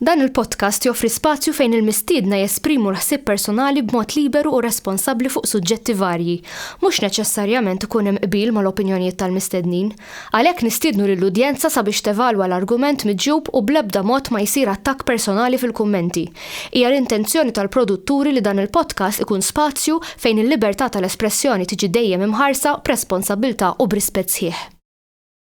Dan il-podcast joffri spazju fejn il-mistiedna jesprimu l-ħsieb personali b'mod liberu u responsabbli fuq suġġetti varji. Mhux neċessarjament ikun hemm qbil mal-opinjonijiet tal-mistednin. Għalhekk nistiednu lill-udjenza sabiex tevalwa l-argument miġjub u bl-ebda mod ma jsir attakk personali fil-kummenti. Hija l-intenzjoni tal-produtturi li dan il-podcast ikun spazju fejn il-libertà tal-espressjoni tiġi dejjem imħarsa b'responsabbiltà u b'rispett sħiħ.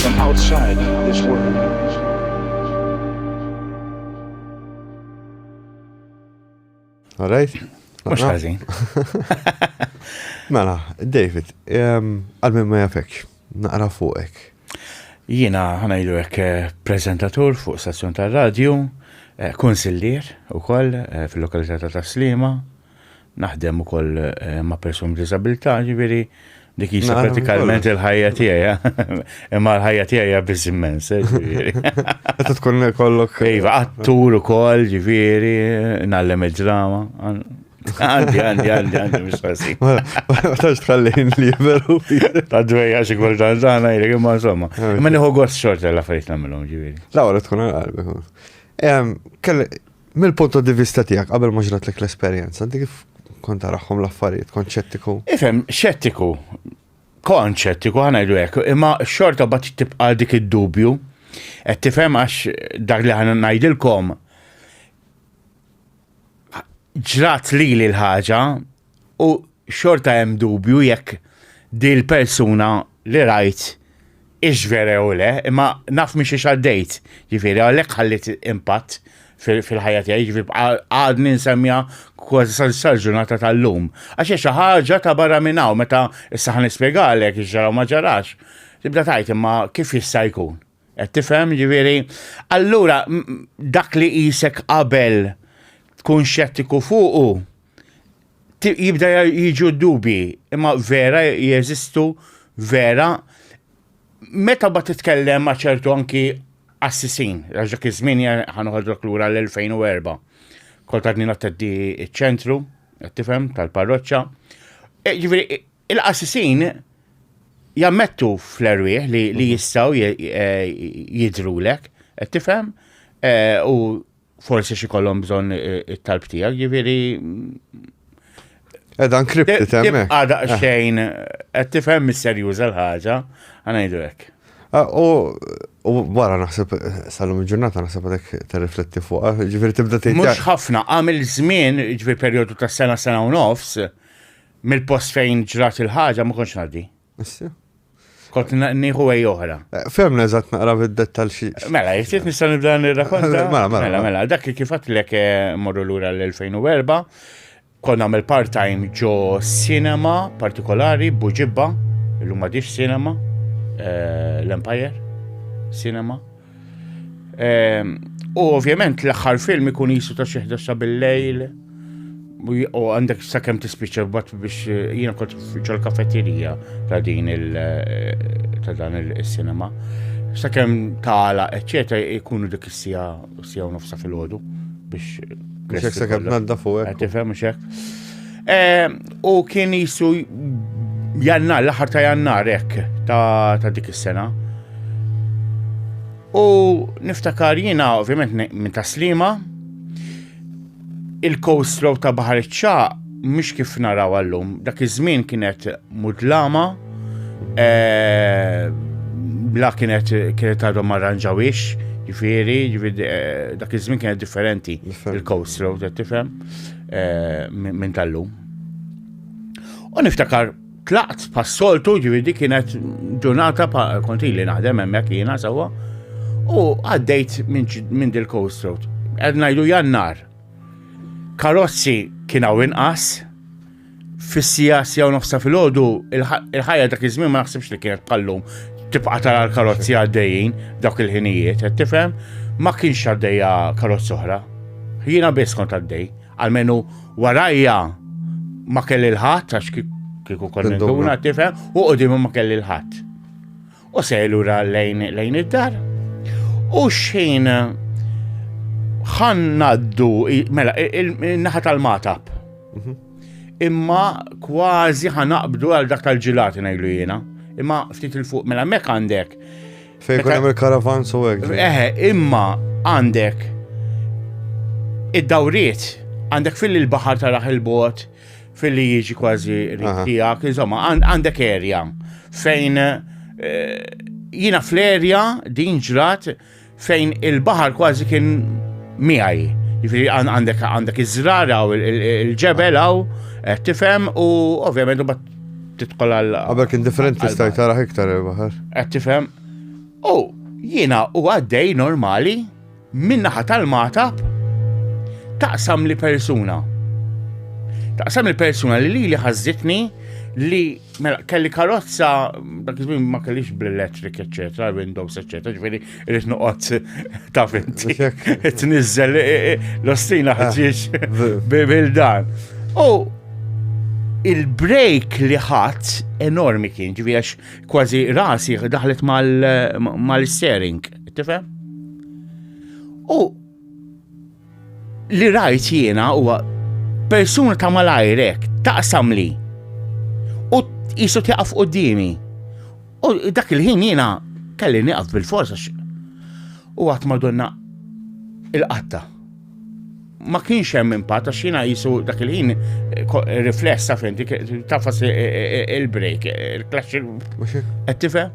from outside this world. All right? Mux ħazin. Mela, David, għal-min ma jafek, naqra fuqek. Jina ħanajdu għek eh, prezentatur fuq stazzjon tal-radio, eh, konsillier u koll eh, fil-lokalità ta' Taslima, Naħdem ukoll eh, ma' persuni b'diżabilità, ġifieri dik hija pratikament il-ħajja tiegħi. Imma l-ħajja tiegħi hija biss immens, eh, ġifieri. Qed tkun kollok. Eh, iva, attur ukoll, ġifieri, nallem id-drama. Għandi, għandi, għandi, għandi, mux għasi. Ma tax tħallin li veru. Ta' dwejja xie kol dan dan, għajri, imma insomma. Imma niħu għos xorta la fejt namilom ġiviri. La, għara tkun għal-qalbi. Mill-punto di vista tiegħek qabel ma ġratlek l-esperjenza, inti kif kont taraħħom l-affarijiet, kont ċettiku? Ifhem, ċettiku. Kont ċettiku ħana jdu hekk, imma xorta bat tibqa' dik id-dubju. Qed tifhem għax dak li ħana ngħidilkom ġrat li l-ħaġa U xorta hemm dubju jekk dil persuna li rajt ix vera jew le, imma naf minn xiex għaddejt, ġifieri għalhekk ħalliet impatt fil-ħajja tiegħi, ġifieri għadni nsemmiha kważi sal-ġurnata tal-lum. Għax hija xi ħaġa ta' barra minn hawn meta issa ħa nispjegalek x'ġara u ma ġarax, tibda tgħid imma kif jista' jkun? Qed tifhem? Ġifieri, allura dak li qisek qabel tkun xettiku fuqu, jibda jiġu dubi, imma vera jeżistu vera meta ba titkellem ma' ċertu anki assisin, għax dak iż-żmien ħanoħodrok lura l-2004. Kol ta' din teddi ċ-ċentru, tifhem, tal-parroċċa. E, ġifieri, il-qassisin jammettu fl-erwieħ li mhm. jistgħu e, jidrulek, qed tifhem? E, u forsi xi kollhom bżonn it-talb tiegħek, jiġifieri Edha nkripti temmek. Eh. Għada eh. xejn, qed tifhem mis-serjuża l-ħaġa, ngħidu hekk. Ah, u wara naħseb salum il-ġurnata naħseb għadek terrifletti fuq, eh, ġifieri tibda tgħid. Mhux ħafna, għamil żmien, ġifieri perjodu ta' sena sena u nofs, mill-post fejn ġrat il-ħaġa ma kontx ngħaddi. Issa? Kont nieħu għaj oħra. Eh, Femna eżatt naqra bid-dettal xi. Mela, jiftit nista' nibda nirrakonta. Mela, mela, mela, mela. mela dak li kif għatlek eh, morru lura l-2004, kon għamil part-time ġo cinema partikolari, buġibba, l-lum għadix cinema, eh, l-Empire, cinema. Ehm, u ovvjament l-aħħar film ikun jisu ta' xeħda sa bil-lejl u għandek sa' kem tispiċa bat biex eh, jina kont fiċa l-kafeterija ta' din il- eh, ta' dan il-cinema. Sa' kem tala, eccetera, ikunu dik sija sija u nofsa fil-ħodu biex. Biex sa' kem nadda fuq. Għatifem, xek. Eh, u kien jisu jannar, l-aħħar ta' jannar hekk ta' dik is-sena. U niftakar jiena ovvjament minn ta' slima il-coastro ta' Bahar Ċaq mhux kif naraw għallum, dak iż-żmien kienet mudlama, eh, bla kienet kienet għadhom arranġawix, ġifieri, eh, dak iż-żmien kienet differenti il-coast road, tifhem? eh, minn tal-lum. U niftakar tlaqt pas-soltu ġividi kienet ġurnata pa' konti li naħdem hemmhekk jiena sewwa u għaddejt minn dil-coast road. Qed ngħidu jannar. Karozzi kien hawn inqas, Fis-sija sija u nofsa fil-ħodu, il-ħajja dak iż-żmien ma naħsibx li kienet bħallum tibqa' tara l-karozzi għaddejjin dak il-ħinijiet, qed tifhem? Ma kienx għaddejja karozz oħra. Jiena biss kont għaddej, għalmenu warajja ma kelli l-ħadd għax kieku konna nduna tifhem u qudiem ma kelli l-ħadd. U se lura lejn lejn id-dar. U xejn ħan naddu mela naħa tal-matab. Mhm. Imma kważi ħanaqbdu għal dak tal-ġilati ngħidu jiena. Imma ftit il fuq mela mek għandek. Fejn kun hemm il-karavan so hekk. Eħe, imma għandek id-dawriet għandek fil-baħar taraħ il-bot Filli jiġi kważi tiegħek, insomma, għandek erja fejn eh, jina fl-erja din ġrat fejn il-baħar kważi kien miegħi. Jiġifieri għandek għandek iż-żrara u l-ġebel hawn eh, tifhem u ovvjament u titqol għal. Għabel kien differenti stajt taraħ iktar il-baħar. Qed tifhem. U jiena u għaddej normali min-naħa tal-magħtab taqsam li persuna. Taqsam li persuna li li li ħazzitni li mela, kelli karozza, dak iż-żmien ma kellix bl-electric, eċetera, windows, eċetera, ġifieri irid noqgħod ta' finti. Tniżżel e, e, l-ostina ah, ħaġiex bil-dan. U il-break li ħadd enormi kien, ġifieri kważi rasi daħlet mal-steering. Tifhem? U li rajt jiena huwa persuna ta' malajrek taqsam li u jisu tjaqaf u dimi. U dak il-ħin jiena kelli niqaf bil-forsa u għat madonna il-qatta. Ma kienx hemm impatt għax jiena jisu dak il-ħin riflessa fejn tafas il-break, il-klaxxi. Qed tifhem?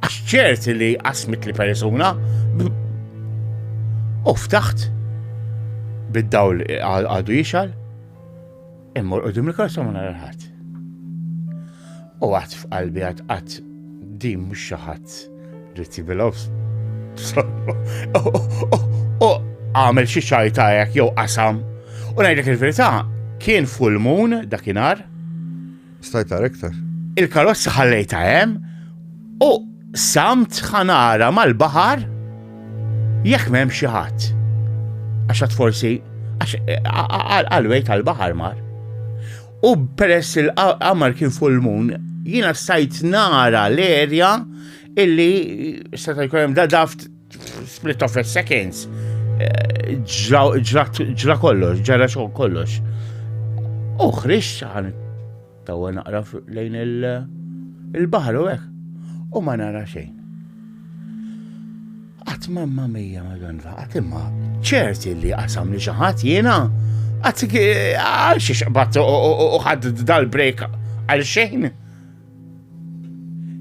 Għax ċerti li qasmit li persuna u ftaħt bid-dawl għadu jixal immur u dim il-korsa ma narħat. U għat f'qalbi għat għat dim mux xaħat li tibilofs. U għamel xie xajtajak jew qasam. U najdek il-verita kien full moon dakinar Stajt tara iktar. Il-karozza ħallejta hemm u samt ħanara mal-baħar jekk m'hemm xi ħadd. Għax forsi għal-wejt għal-baħar mar. U peress il-qamar kien full moon, jiena stajt nara l-erja illi seta' jkun hemm da daft Split of a seconds, eh, ġra kollox, ġara xogħol kollox. U ħriġt ħan tawa naqra lejn il-baħar u hekk. U ma nara xejn. Qatt mamma mija madonna, qatt imma ċerti li qasam li xi ħadd jiena għax xiex bat u ħadd dal-break għal xejn.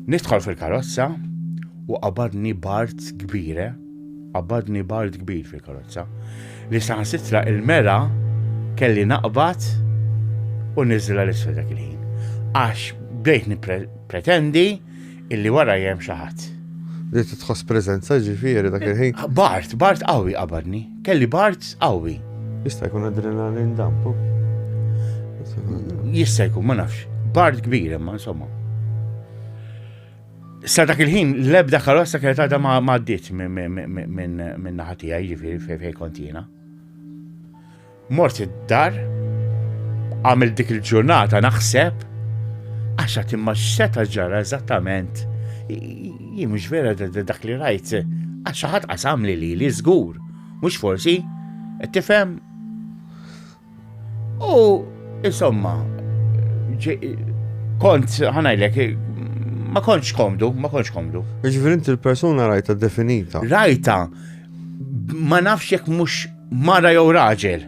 Nidħol fil-karozza u qabadni bart kbire, qabadni bart kbir fil-karozza, li saħansitra il-mera kelli naqbad u niżla l-isfel dak il-ħin. Għax bdejt nipretendi illi wara jem xaħat. Li tħoss prezenza ġifiri dak il-ħin. Bart, bart qawwi qabadni. Kelli bart qawwi. Jista' jkun adrenalin dampu. Jista' jkun, ma nafx. Bart kbir imma insomma. Sa dak il-ħin, l-ebda karozza kienet għadha ma għaddiet minn naħatija, jiġifieri fejn kontina. Mort id-dar, għamil dik il-ġurnata naħseb, għaxa timma x'seta ġara eżattament Jien mhux vera dak li rajt, għax xi ħadd qasam li li żgur, mhux forsi, qed tifhem? U insomma, kont ħanajlek ma kontx komdu, ma kontx komdu. Ġifieri inti l-persuna rajta definita. Rajta ma nafx jekk mhux mara jew raġel.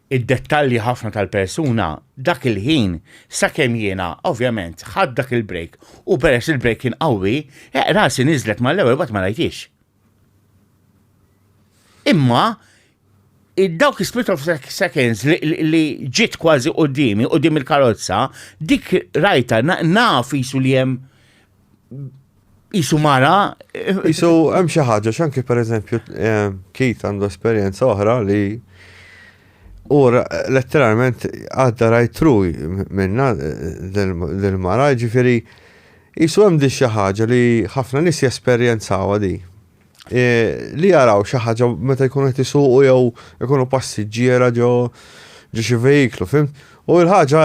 id-dettalji ħafna tal-persuna dak il-ħin sakemm jiena ovvjament ħadt dak il-break u peress li l-break kien qawwi, eq rasi niżlet mal-ewwel mbagħad ma rajtix. Imma dawk is-split of seconds li ġiet kważi qudiemi, qudiem il-karozza, dik rajta naf isu li hemm Isu mara. Isu hemm xi ħaġa x'anki pereżempju eh, Kit għandu esperjenza oħra li u letteralment għadda rajtru minna dil-mara eh, ġifiri jisu hemm di xi ħaġa li ħafna nies jesperjenzaw di. Eh, li jaraw xi ħaġa meta jkunu qed isuqu jew ikunu passiġġiera ġo ġo xi vehiklu, fim? U l-ħaġa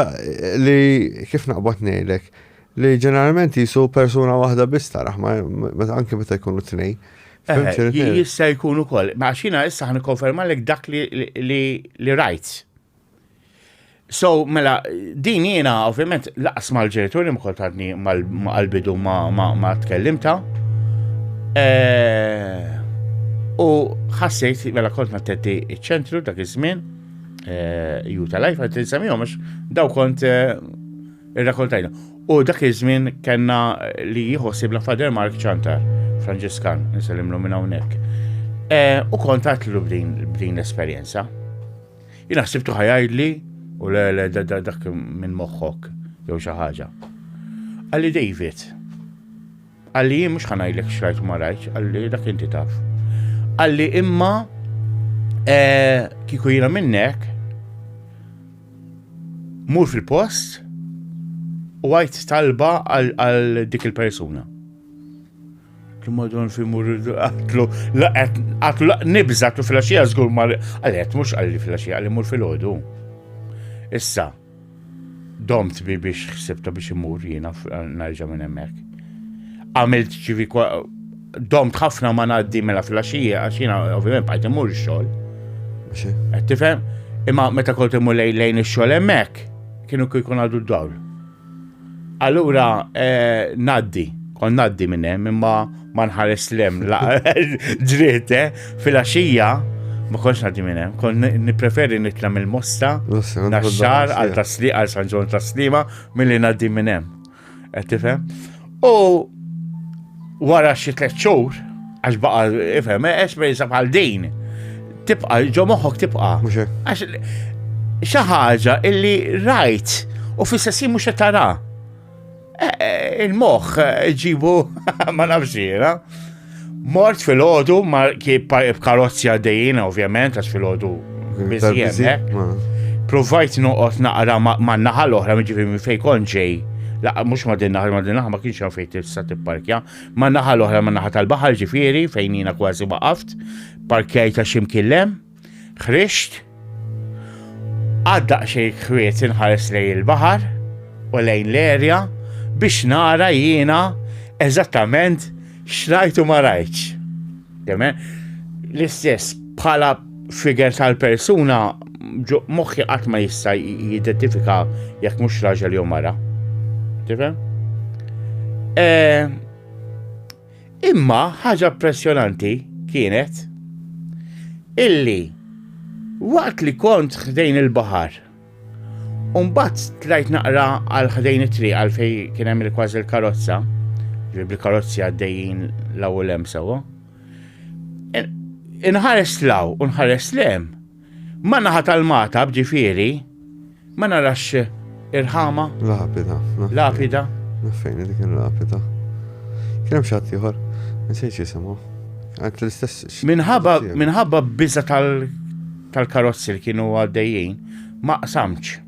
li kif naqbad ngħidlek Li ġeneralment jisu persuna waħda biss taraħ, anke meta jkunu tnej. Jista' jkun ukoll, ma xina issa ħan konfermalek dak li rajt. So, mela, din jiena, ovvjament, laqas mal-ġenituri mkoltadni mal-bidu ma tkellimta. Eh, u ħassejt, mela kont ma t-tetti ċentru dak iż-żmien, eh, ju tal-lajf, għat-tinsamijom, daw kont eh, Irrakoltajna. U dak iż-żmien kellna li jħossibna Fader Mark Ċantar, Franġiskan, nsellimlu minn hawnhekk. E, u kont għatlu b'din l-esperjenza. Jina ħsibtu ħajajdli u le le dak minn moħħok jew xi ħaġa. Għalli David, Qalli jien mhux ħa ngħidlek x'rajt u ma rajtx, qalli dak inti taf. Qalli imma eh, kieku jiena minnek mur fil-post u għajt talba għal dik il-persuna. Madon fi mur għatlu, għatlu nibza, għatlu fil-axija zgur mar, għalet, mux għalli fil-axija, għalli mur fil-ħodu. Issa, Domt bi biex ħsibta biex imur jiena nerġa' minn hemmhekk. Għamilt ġivi domt ħafna ma ngħaddi mela fil-axija għax jiena ovvjament bħajt imur ix-xogħol. Qed tifhem? Imma meta kont imur lejn ix-xogħol hemmhekk kienu kieku jkun għadu d-dawl. Allura ngħaddi, kon ngħaddi minn hemm imma ma nħares lem ġriet eh, fil-għaxija ma konx ngħaddi minn hemm, kon nippreferi nitla' mill-mosta naxxar għal tasliq għal San Ġon taslima milli ngħaddi minn hemm. Qed tifhem? U Wara xi tliet xhur, għax baqa' ifhem, eh, esperjenza bħal din, tibqa' ġo moħħok tibqa'. Għax xi ħaġa illi rajt u fis-sessi mhux qed tara. Eh, eh, il-moħħ ġibu ma nafx jiena. Mort fil-ħodu, ma karozzi għaddejjina ovvjament, għax fil-ħodu Bizjem, Provajt noqgħod naqra man naħa l-oħra miġifieri minn fejn kont ġej. Laqqa mhux ma din naħa ma din naħa ma kienx hemm fejn tista' tipparkja. Man naħa l-oħra man naħa tal-baħar ġifieri fejn jiena kważi waqaft, parkjajt ta' ximkillem, ħrixt. Għadda xejn kwiet inħares lejn il-baħar u lejn l-erja biex nara jiena eżattament xrajtu ma rajtx. L-istess bħala figure tal-persuna moħħi qatt ma jista' jidentifika jekk mhux raġel jew mara. Tifhem? Eh, imma ħaġa pressjonanti kienet illi waqt li kont ħdejn il-baħar Umbat tlajt naqra għal ħdejn it-tri għal fej kien hemm il-kważi l-karozza, ġibri karozzi għaddejjin l u lem sewa. Inħares law u nħares lem. Ma naħa tal-mata bġifieri, ma narax irħama. Lapida. Lapida. Fejn dik il-lapida. Kien hemm xatt ieħor, nsejx jisimgħu. Għant l-istess. Minħabba minħabba biża tal tal-karozzi li kienu għaddejjin ma qsamx.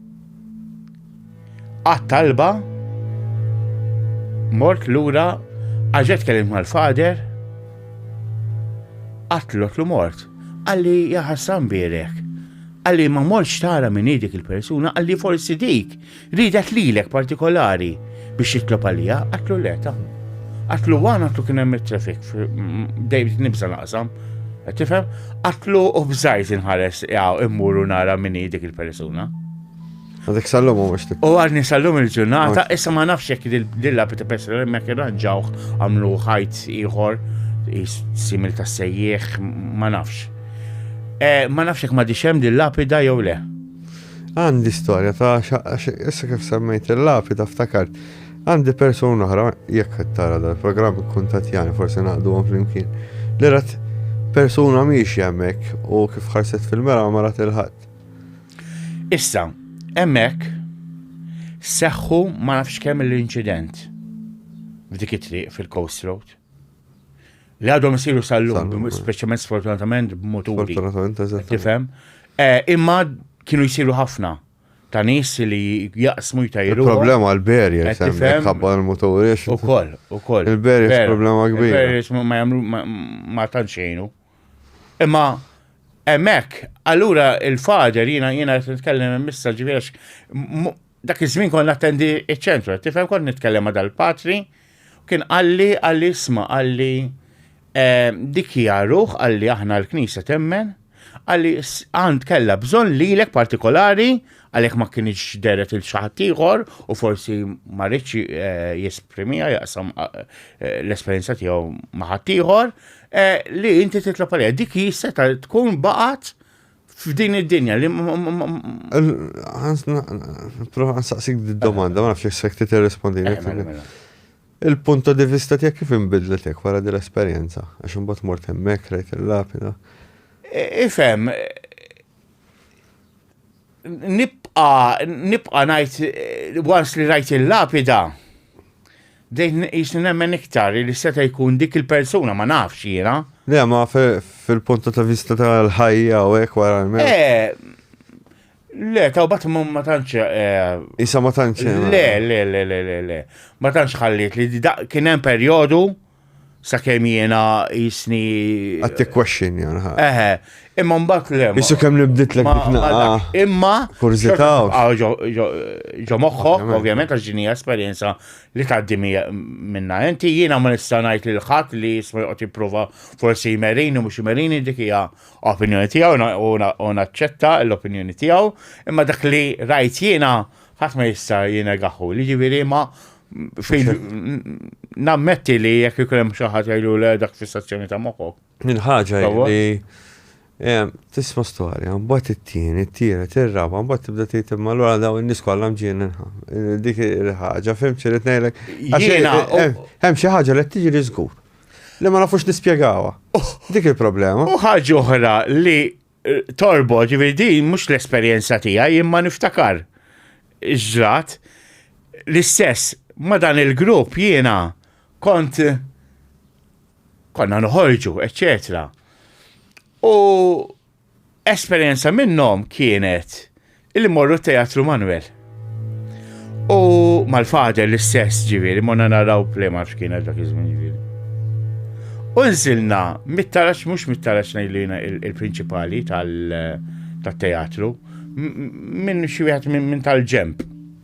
Qatt talba mort lura għaġet kellim mal-fader qatlot lu mort. Għalli jaħassan birek. Għalli ma morċ tara minn dik il-persuna, għalli forsi dik Ridet lilek partikolari biex jitlob għalija, għatlu le ta' Għatlu għan għatlu kien hemm traffic dejjem nibża naqsam. Tifhem? Għatlu u bżajt inħares jgħaw immuru nara minni dik il-persuna. Għadik sallum u għaxti. U għadni sallum il-ġurnata, issa ma nafx jek dilla pita pesra mek irranġawħ għamlu ħajt iħor, simil ta' sejjieħ, ma nafx. Eh, ma nafx jek ma diċem dil-lapida jew le. Għandi storja ta' issa kif semmejt il-lapida ftakart. Għandi persuna oħra, jekk qed tara dal-programm ikkuntatjani forsi naqduhom flimkien, li rat persuna mhix hemmhekk u kif ħarset fil-mera ma rat il-ħadd. Issa, hemmhekk seħħu ma nafx kemm l-inċident f'dik it-triq fil-Coast Road. Li għadhom isiru sal-lum, speċjalment sfortunatament b'moturi. Sfortunatament, eżatt. Tifhem? Eh, imma kienu jsiru ħafna ta' nis li jaqsmu jtajru. Problema għal-berja, tifhem? Ħabba l-moturi. U koll, u koll. Il-berja problema kbir. Il-berja ma jamlu ma tanċejnu. Imma Emmek, allura il-fader jina jina t-tkellem missa ġivirax, Dak iż-żmien kont nattendi ċ-ċentru, qed tifhem kont nitkellem ma' dal-patri, kien qalli qalli isma' qalli eh, dik hija ruħ qalli aħna l-Knisja temmen, qalli għand kellha bżonn lilek partikolari għalhekk ma kienx deret il xi ħadd ieħor u forsi ma ridx eh, jesprimiha jaqsam eh, l-esperjenza tiegħu ma' ħadd ieħor li inti titlob għalija. Dik jista' tkun baqgħet F'din id-dinja li. Prova nsaqsik d-domanda, ma nafx jek sekti t-respondi. Eh, mela, mela. Il-punto di vista tijak kif imbidlet jek wara di l-esperienza? Għax imbagħad mort hemmhekk rajt il-lapida. E, ifhem, nibqa nibqa ngħid once li rajt il-lapida Bdejt nqisni nemmen iktar li seta' jkun dik il-persuna, ma nafx jiena. Le, ma fil-punta ta' vista tal-ħajja u hekk wara l-mewt. Eh, Le, ta' bat ma tantx. Eh, Isa ma tantx. Eh, le, le, le, le, le, le. Ma tantx ħalliet li kien hemm perjodu Sakemm jiena jisni. Għad t-question jan. Eħe, imma mbagħad le. Isu kemm nibdit l Imma. Kurzita. Ġo moħħok, ovvjament, għax ġini esperjenza li tgħaddi minna. Inti jiena ma nista' ngħid lil ħadd li jisma' joqgħod jipprova forsi jmerini mhux jmerini dik hija opinjoni tiegħu u naċċetta l-opinjoni tiegħu, imma dak li rajt jiena ħadd ma jista' jiena gaħħu. Li ġifieri ma Nammetti li jekk ikun hemm xi ħadd jgħidu le dak fissazzjoni ta' moħħok. Minn ħaġa li eh, tisma' storja, mbagħad it-tieni, it-tielet, ir-raba, mbagħad tibda tgħid imma allura daw in-nies kollha mġien dik il-ħaġa, fim xi rid ngħidlek. Hemm xi ħaġa li tiġi li żgur. Li ma nafux nispjegawha. Oh. Dik il-problema. U ħaġa oħra li Torbo, ġifieri din mhux l-esperjenza tiegħi imma niftakar ġrat l-istess ma dan il-grupp jiena kont konna noħorġu, eccetera. U esperjenza minnhom kienet Illi morru t-Teatru Manuel. U mal-fader l-istess ġiviri, monna naraw play ma fxkina dak iż-żmien ġiviri. U nżilna mit-tarax, mux mit-tarax najlina il-prinċipali tal-teatru, minn xi wieħed minn tal-ġemp.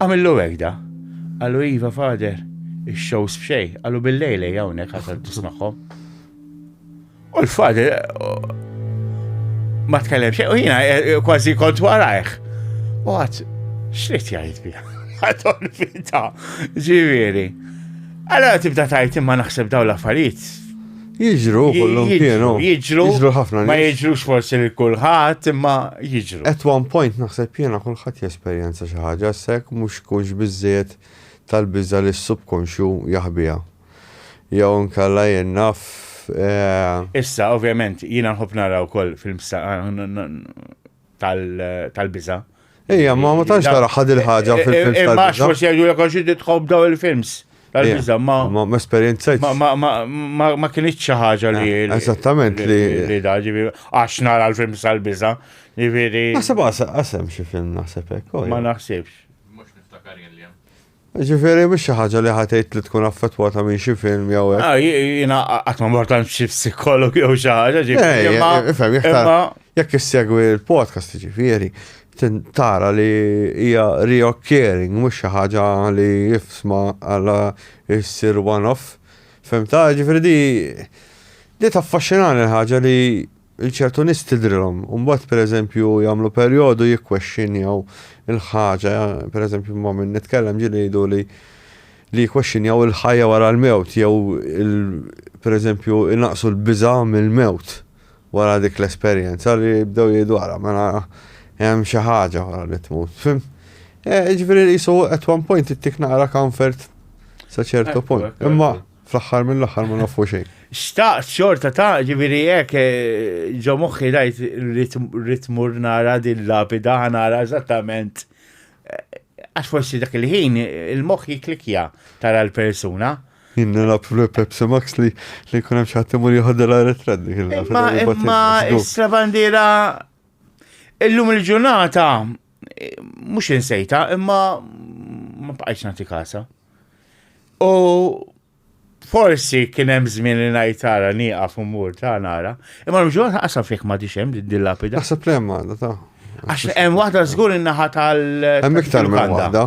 Għamillu hekk da. Qalu iva fader, ix-shows b'xej, qalu bil-lejl ej hawnhekk ħasad tismagħhom. U l-fader ma tkellem xejn u jiena eh, eh, kważi kont warajh. U għad x'rid jgħid biha? Għadhom fita, ġifieri. Allora tibda tajt imma naħseb daw l-affarijiet Jiġru, kollum kienu. Jiġru, jiġru ħafna. Ma jiġrux forsi li kullħat, imma jiġru. At one point naħseb jena kullħat jesperjenza xi ħaġa sekk mhux kunx biżżejjed tal-biża li s-subkonxju jaħbija. Jew nkalla jennaf. Eh, Issa, ovvjament, jiena nħobb naraw wkoll fil-msa tal-biża. Ejja, ma ma tantx tara ħad il-ħaġa fil-films tal-biża. Ma xmux jgħidu jekk xi titħobb daw il-films tal-biża ma. Ma ma esperjenza. Ma kienx xi ħaġa li. Eh, eżattament li. Li daġi għax nara l-films tal-biża. Jifieri. Naħseb għasem xi film naħseb hekk. Oh, ma naħsibx. Mhux niftakar jien li hemm. Ġifieri mhix xi ħaġa li ħa tgħid li tkun affettwata minn xi film jew hekk. Ah, jiena qatt ma mort għand xi psikolog jew xi ħaġa ġifieri. Eh, eh, ifhem, jekk issegwi l-podcast ġifieri, tara li hija reoccurring mhux xi ħaġa li jifsma għala issir one-off. Fem ta' ġifieri di di taffaxxinani l-ħaġa li Lil ċertu nies tidhrilhom u mbagħad pereżempju jagħmlu perjodu jikkwexxinjaw il-ħaġa, pereżempju ma' min nitkellem ġieli jgħiduli li jikkwexxinjaw il-ħajja wara l-mewt jew pereżempju jnaqqsu l-biża' mill-mewt wara dik l-esperjenza li jibdew jgħidu ara mela hemm xi ħaġa wara li tmut. Fimt? Jiġifieri qisu at one point ittik naqra comfort sa ċertu punt. Imma Fl-aħħar mill-aħħar ma nafu xejn. Xtaqt xorta ta' ġifieri hekk eh, ġo moħħi rajt rrit mur nara din lapida nara eżattament eh, għax forsi dak il-ħin il-moħħ jiklikja tara l-persuna. Jien nilab fl-Pepsi Max li li kun hemm xi ħadd imur jieħodha l-arretrat dik il-lapida. Imma imma is-bandiera illum il-ġurnata Mhux insejta, imma ma bqajtx nagħti kasa. U forsi kien hemm żmien li ngħid tara nieqaf u mur ta' nara, imma l-ġurnata qasam fik ma dix hemm din lapida. Naħseb li hemm għandha ta'. Għax hemm waħda żgur in-naħa tal. Hemm iktar minn waħda.